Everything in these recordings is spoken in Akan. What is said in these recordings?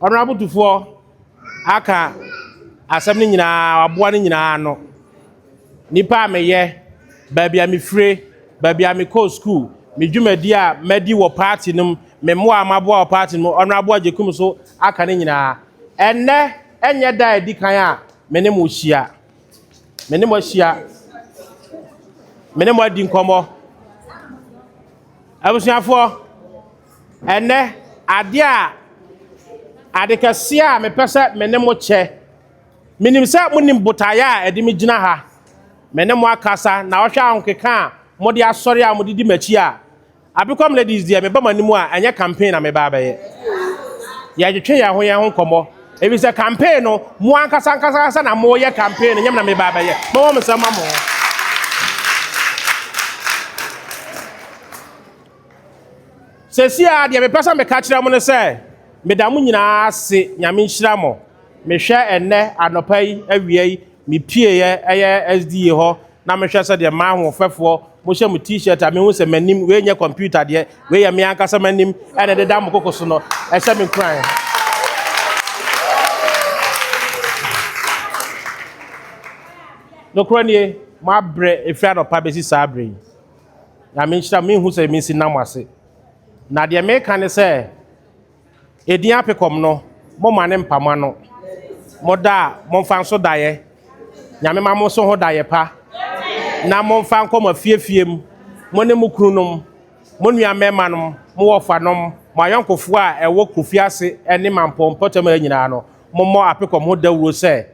Honourable Tufoɔ aka asɛm no nyinaa, waboa no nyinaa ano. Nipa a meyɛ, baabi a mefire, baabi a mekɔɔ sukuu, me dwumadi a madi wɔ party no mu, me mmoa a maboa wɔ party no mu, Honourable Agyekum so aka ne nyinaa. Ɛnnɛ ɛnyɛ da a ɛdi kan a me ne mo hyia. Me ne mo ahyia. Me ne mo adi nkɔmmɔ. Abusuafoɔ. Ɛnnɛ, ade a, ade kɛseɛ a mepɛ sɛ me ne mo kyɛ, menim sɛ monim botaeɛ a ɛde me gyina ha, me ne mo akasa, na wohwɛ ahokeka a mode asɔre a mode di m'akyi a, Abekom Ladies deɛ meba mo anim a, ɛnyɛ campaign na meba abɛyɛ. Yɛretwetwe yɛn ho yɛn ho nkɔmmɔ, ɛfiri sɛ campaign no, mo ankasa ankasa ankasa na moreyɛ campaign no, ɛnyɛ me na meba abɛyɛ. Mɛwɔ me nsɛm ma mo. Sɛsi a deɛ mepɛ sɛ meka kyerɛ mo ne sɛ, meda mo nyinaa ase, Nyame nhyira mo. Mehwɛ ɛnnɛ anɔpa yi awia yi mepieɛ ɛyɛ SDA hɔ na mehwɛ sɛ deɛ m'ahoɔfɛfoɔ mohyɛ mo t-shirt a mehu sɛ m'anim wei nyɛ computer deɛ, wei yɛ me ankasa m'anim ɛna ɛdeda mo koko so no, ɛhyɛ me nkuran. Nokorɛ nie, moabrɛ ɛfiri anɔpa bɛsi saa berɛ yi. Nyame nhyira mo, me nhu sɛ mensi nam mo ase. Na deɛ meka ne sɛ, edin apekɔm no, mo ma ne mpa mo ano. Mo da a, mo nfa nso daeɛ. Nyame ma mo so ho daeɛ pa. Na mo nfa nkɔ mo afiefie mu, mo ne mo kunu nom, mo nua mmarima nom, mo wɔfa nom, mo ayɔnkofoɔ a ɛwɔ Kofi ase ne Mampɔn mpɔtam ha nyinaa no, mo mmɔ apekɔm ho dawuro sɛ,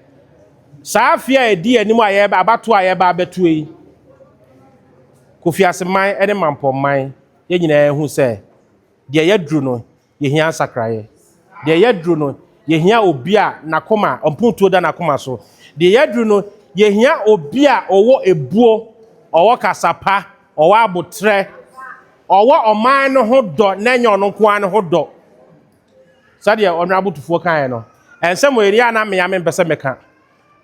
Saa afe a ɛdi anim a yɛreba abatoɔ a yɛreba abɛtoɔ yi, Kofi Ase man ne Mampɔn man, yɛn nyinaa ahu sɛ deɛ yɛaduru no, yɛhia nsakraeɛ. Deɛ yɛaduru no, yɛhia obi a n'akoma, mpuntuo da n'akoma so. Deɛ yɛaduru no, yɛhia obi a ɔwɔ ebuo, ɔwɔ kasapa, ɔwɔ aboterɛ, ɔwɔ ɔman no ho dɔ na ɛnyɛ ɔno nko ara ne ho dɔ. Sɛdeɛ Ɔnoabo Tufoɔ kaeɛ no, nsɛm wei deɛ a na me ara mempɛ sɛ meka.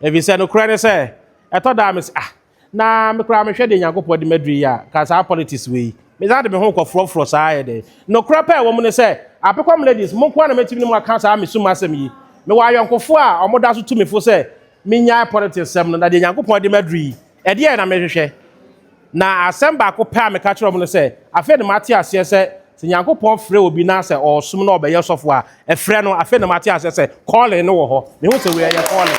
Ɛfiri sɛ, nokorɛ ne sɛ, ɛtɔ da a mese, ah, na me koraa mehwɛ deɛ Nyankopɔn de me aduru yi a, anka saa politics wei, mesan de me ho kɔforɔforɔ saa ayɛ dɛn? Nokorɛ pɛ a ɛwɔ mu ne sɛ, Apekɔm Ladies, mo nko ara na mɛtumi ne mo aka saa me sum asɛm yi. Mewɔ ayɔnkofoɔ a wɔda so tu me fo sɛ mennyae politics sɛm no, na deɛ Nyankopɔn de me aduru yi, Ɛdeɛn na merehwehwɛ? Na asɛm baako pɛ a meka kyerɛɛ wɔn no sɛ, Afei na mate aseɛ sɛ, sɛ Nyankopɔn frɛ obi na sɛ ɔresom na ɔbɛyɛ sɔfoɔ a, ɛfrɛ no, afei na mate aseɛ sɛ calling no wɔ hɔ. Mehu sɛ wei ɛyɛ calling.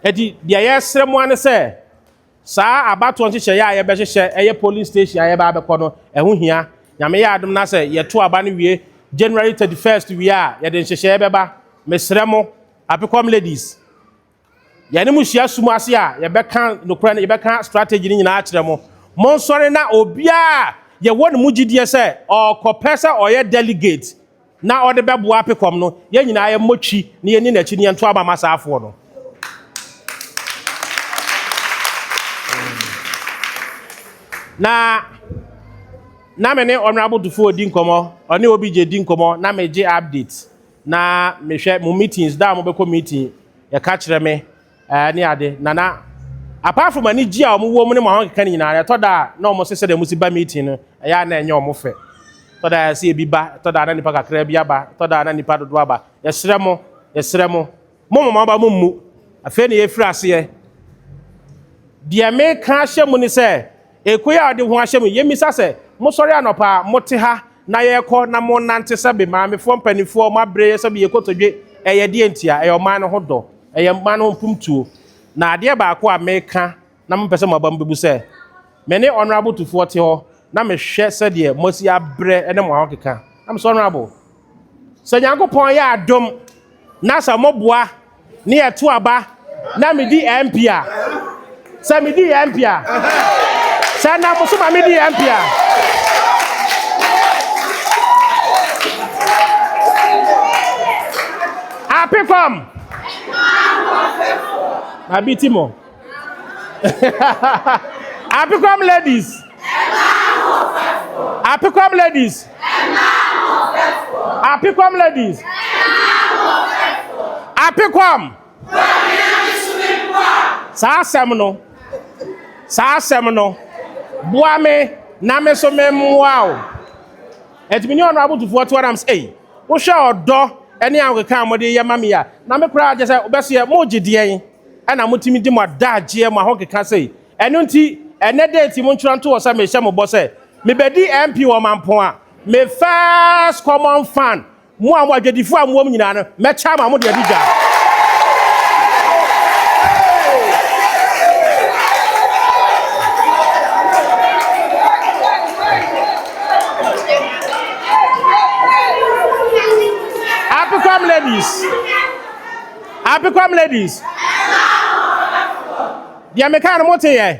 Enti deɛ yɛresrɛ mo ara ne sɛ, Saa abatoɔ nhyehyɛeɛ a yɛbɛhyehyɛ ɛyɛ polling station a yɛbɛ abɛkɔ no ɛho hia. Nyame yɛ adom na sɛ yɛto aba no wie January 31st wie a yɛde nhyehyɛeɛ bɛba. Mesrɛ mo Apekom ladies yɛne mo hyia sum ase a yɛbɛka nokorɛ no yɛbɛka strategy no nyinaa akyerɛ mo. Monsɔre na obiara a yɛwɔ ne mu gyidie sɛ ɔɔkɔ pɛ sɛ ɔyɛ delegate. na ɔde bɛboa apekɔm no, yɛn nyinaa yɛmmɔ twi na yɛnni n'akyi na yɛnto aba ma saa afoɔ no. Na na me ne Honorable Dufour di nkɔmmɔ, ɔne obi gye di nkɔmmɔ na megye update na mehwɛ mo meetings da a mobɛkɔ meeting yɛka kyerɛ me ɛɛ ne ade na na apart from anigye a wɔn wɔ mu ne wɔn ahokeka no nyinaa ɛtɔ da a na wɔn sesɛ dɛ wɔn si ba meeting no ɛyɛ a na ɛnyɛ wɔn fɛ ɛtɔ da a ɛsɛ ebi ba ɛtɔ da a na nipa kakra bi aba ɛtɔ da a na nipa dodo aba yɛsrɛ mo yɛsrɛ mo mo mo aba mo mmu afei na yɛfiri aseɛ deɛ meka ahyɛ mu ne sɛ. Ekoe a ɔde ho ahyɛ mu yi, yemmisa sɛ, Mosɔre anɔpa a, mote ha na yɛrekɔ na monante sɛ be maamefoɔ mpanimfoɔ, mo abrɛ yɛ sɛ be yɛ kotodwe? Ɛyɛ deɛn ntia? Ɛyɛ ɔman no ho dɔ. Ɛyɛ ɔman no ho mpomtuo. Na adeɛ baako a meka na mopɛ sɛ moaba mu bɛbu sɛ, me ne Honourable Tufoɔ te hɔ na mehwɛ sɛdeɛ moasi abrɛ ne mo ahokeka. I'm so honourable. Sɛ Nyankopɔn yɛ adom na sɛ mo boa ne yɛ to aba na me di MP a, sɛ me di MP a, sɛ na mo so ma me di MP a, apekɔm, ma bi ti mo. Apekwam ladies. Apekwam ladies. Apekwam ladies. Apekwam. Saa asɛm no. Saa asɛm no. Boa me na me so me mmoa o. Ɛtumi ne ɔno abotofoɔ to anam sɛ ei wohwɛ ɔdɔ ne ahokeka a wɔde yɛ ma me a na me koraa agye sɛ wobɛso yɛ mogye deɛn. na motumi di mo adagyeɛ, mo ahokeka sei. Ɛno nti, ɛnnɛ date mo ntwerɛ nto hɔ sɛ mehyɛ mo bɔ sɛ mebɛdi MP wɔ Mampong a, me first common fan, mo a mo adwadifoɔ a mowom nyinaa no, mɛkyɛ ama mo de adi dwa. Apicom ladies. Apekwam ladies. Deɛ meka no mote yɛ.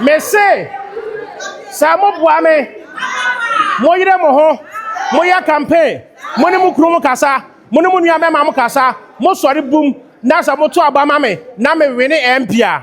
Mese sɛ moboa me moyere mo ho moyɛ campaign mo ne mo kunu mo kasa mo ne mo nua mɛma mo kasa mosɔre bum na sɛ moto aba ma me na mewene MP a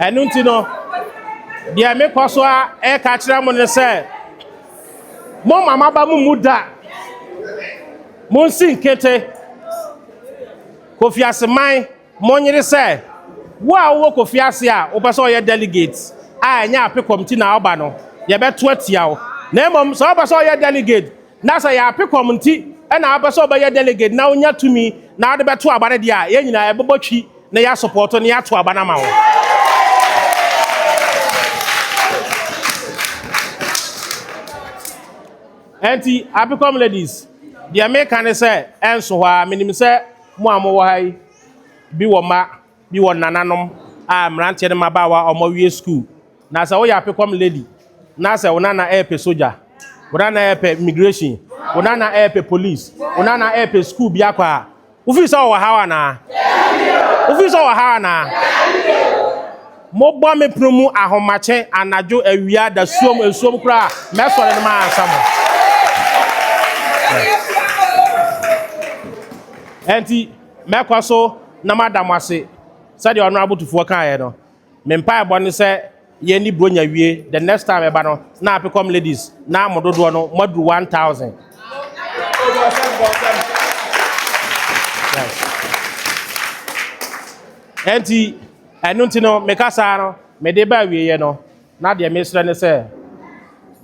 Ɛno nti no, deɛ mekɔ so a ɛreka akyerɛ mo ne sɛ, momma maba mo mu da, monsi nkete, Kofi Aseman, monyere sɛ, wo a wowɔ Kofi ase a wopɛ sɛ ɔyɛ delegate a ɛnyɛ apekɔm ti na ɔba no, yɛbɛto atia wo. Na mmom sɛ wopɛ sɛ ɔyɛ delegate Na sɛ yɛ ape kɔm nti na wopɛ sɛ ɔbɛyɛ delegate na wonya tumi na wode bɛto aba no deɛ a, yɛn nyinaa yɛbɛbɔ twi na yɛasopɔɔto na yɛato aba no ama wo. Ɛnti apekɔm ladies, deɛ meka ne sɛ ɛnso hɔ a, menim sɛ mo a mowɔ ha yi bi wɔ mma. bi wɔ nananom a mmeranteɛ ne mmabaawa a wɔawie sukuu. Na sɛ woyɛ apekɔm lady na sɛ wo nana ɛrepɛ sogya, wo nana ɛrepɛ immigration, wo nana ɛrepɛ police, wo nana ɛrepɛ sukuu bi akɔ a, wofii sɛ ɔwɔ haw anaa? Wofii sɛ ɔwɔ haw anaa? Mobɔ me pono mu ahomakye anadwo awia da suom nsuom koraa mɛsɔre no ma ansa mo. Ɛnti Mɛkɔ so na mada mo ase. Sɛdeɛ Honourable Tufoɔ kaeɛ no, me mpaebɔ ne sɛ yɛnni Buronya wie, the next time ɛba no na Apecom ladies no ara mo dodoɔ no moaduru one thousand. Ɛnti ɛno nti no me kasaa no mede ba awieɛ no na deɛ mesrɛ ne sɛ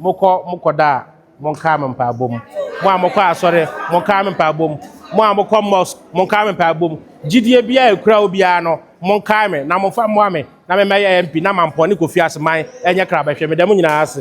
mokɔ mokɔda a Monkaa me mpaebɔ mu. Mo a mokɔ asɔre, monkaa me mpaebɔ mu. Mo a mokɔ mosque, monkaa me mpaebɔ mu. Gyidie biara a ɛkura obiara no, monkae me na momfa mmoa me na memmɛyɛ MP na Mampɔn ne Kofi Aseman nyɛ krabɛhwɛ. Meda mo nyinaa ase.